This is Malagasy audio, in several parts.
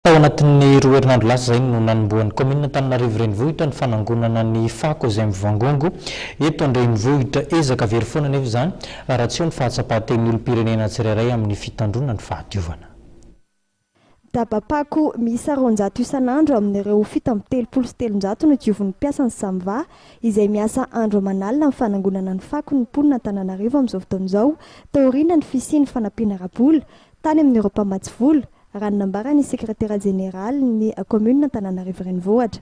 Tao anatin'ny roa herinandro lasa izay no nanombohan'ny kaominina Antananarivo Renivohitra ny fanangonana ny fako izay mivangongo eto an-drenivohitra. Ezaka very foana anefa izany raha tsy eo ny fahatsapan-tenin'ny olom-pirenena tsirairay amin'ny fitandroana ny fahadiovana. Daba-pako miisa roanjato isan'andro amin'ireo fito amby telopolo sy telonjato no diovin'ny mpiasan'ny Samva izay miasa andro aman'alina amin'ny fanangonana ny fako ny mponina Antananarivo amin'izao fotoana izao taoriana ny fisian'ny fanampiana ara-bola Tany amin'ireo mpamatsy vola, raha ny nambaran'ny sekretera jeneralin'ny kaominina Antananarivo Renivohitra.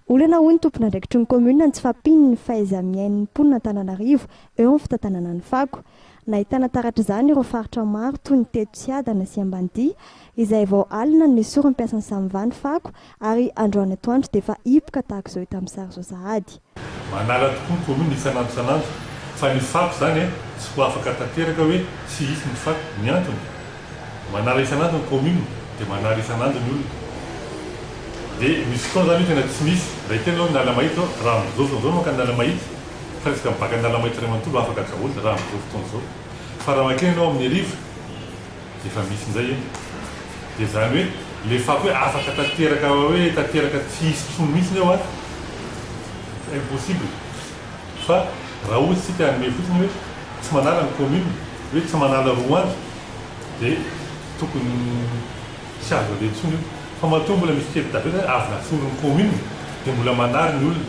Olana hoy ny tompon'andraikitry ny kaominina ny tsy fahampian'ny fahaiza-miain'ny mponina Antananarivo eo amin'ny fitantanana ny fako. Nahitana taratra izany ireo faritra maro toy ny teto Tsiadana sy Ambanidia izay vao alina no nesorin'ny mpiasan'ny Samva ny fako ary androany atoandro dia efa hipoka tahaka izao hita amin'ny sary izao sahady. Manala tokoa ko aloha ny isan'andro isan'andro fa ny fako izany e tsy ho afaka tanteraka hoe tsy hisy ny fako, ny antony? manala isan'andro ny commune dia manary isan'andro ny olona dia misy fotoana izany hoe tena tsy misy, indray kely izao ny ala mahitsy izao raha amin'izao fotoana izao manko ny ala mahitsy fa resaka mibaka ny ala mahitsy iray manontolo afaka daholo raha amin'izao fotoana izao fa raha mankeny ianao amin'ny hariva Efa misy indray e! Dia izany hoe ilay fako hoe afaka tanteraka hoe tanteraka tsy hisy intsony mihitsiny eo an! Impossible! Fa raha ohatra isika hanome fotsiny hoe tsy manala ny commune, hoe tsy manala roa andro, dia tokony tsy azo aleha intsony io. Fa matoa mbola misy kely tavela hoe avy naforon'ny commune dia mbola manary ny olona.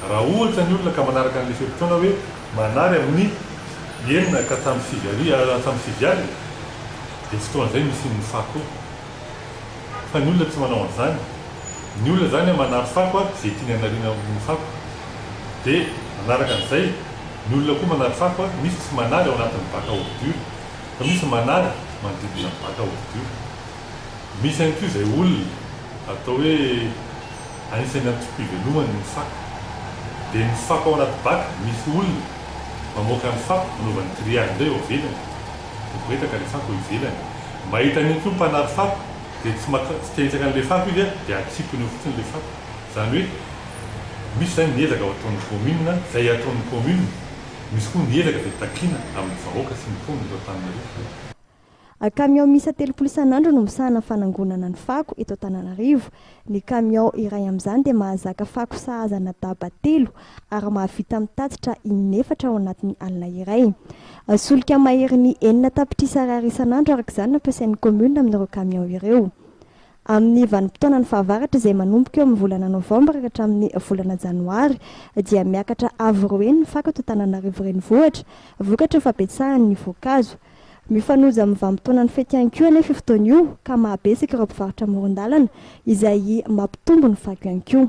Raha ohatra ny olona ka manaraka an'ilay fe-potoana hoe. Manary amin'ny enina ka hatramin'ny sivy hariva, hatramin'ny sivy alina dia fotoana izay nisian'ny fako fa ny olona tsy manao an'izany, ny olona izany a manary fako a izay tiany hanariana amin'ny fako dia manaraka an'izay ny olona koa manary fako a, misy tsy manary ao anatin'ny bac à ordures fa misy manary manodidina ny bac à ordures, misy ihany koa izay olona atao hoe. Anisan'ny antom-piveloman' ny fako dia ny fako ao anaty baka. Misy olona mamoaka ny fako hanaovany grillage indray eo ivelany. Miboretaka ilay fako eo ivelany. Mahita an'iny koa ny mpanary fako dia tsy maka, tsy te hahitsaka an'ilay fako izy dia atsipiny eo fotsiny ilay fako. Izany hoe misy izany ny ezaka ataon'ny kaominina, izay ataon'ny kaominina. Misy koa ny ezaka izay takiana amin'ny vahoaka sy ny mponin'Antananarivo. Kamiao miisa telopolo isan'andro no misahana ny fanangonana ny fako eto Antananarivo. Ny kamiao iray amin'izany dia mahazaka fako sahazana daba telo ary mahavita mitatitra in'efatra ao anatin'ny alina iray. Solika maherin'ny enina tapitrisa ariary isan'andro araka izany no ampiasain'ny kaominina amin'ireo kamiao ireo. Amin'ny vanim-potoanan'ny fahavaratra izay manomboka eo amin'ny volana novambra ka hatramin'ny volana janoary dia miakatra avo roa heny ny fako eto Antananarivo Renivohitra vokatry ny fabetsahan'ny voankazo. Mifanojo amin'ny vanim-potoanan'ny fety ihany koa anefa io fotoana io ka mahabetsaka ireo mpivarotra amoron-dalana izay mampitombo ny fako ihany koa.